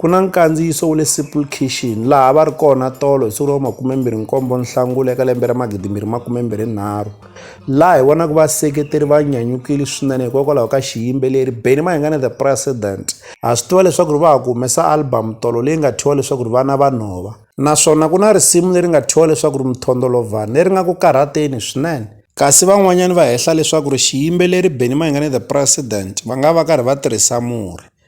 Ku na nkandziyiso wa le Simple Kitchen laha va ri kona tolo hi siku ra makume-mbirhi-nkombo Nhlangula eka lembe ra magidimbirhi makume-mbirhi-nharhu, laha hi vonaka vaseketeri va nyanyukile swinene hikokwalaho ka xiyimbeleri Benny Mayengani The President. Ha swi tiva leswaku va ha ku humesa albhamu tolo leyi nga thyiwa leswaku Vana Va Nhova, naswona ku na risimu leri nga thyiwa leswaku Mthondolovhani leri nga ku karhateni swinene. Kasi van'wanyana va hehla leswaku xiyimbeleri Benny Mayengani The President va nga va karhi va tirhisa murhi.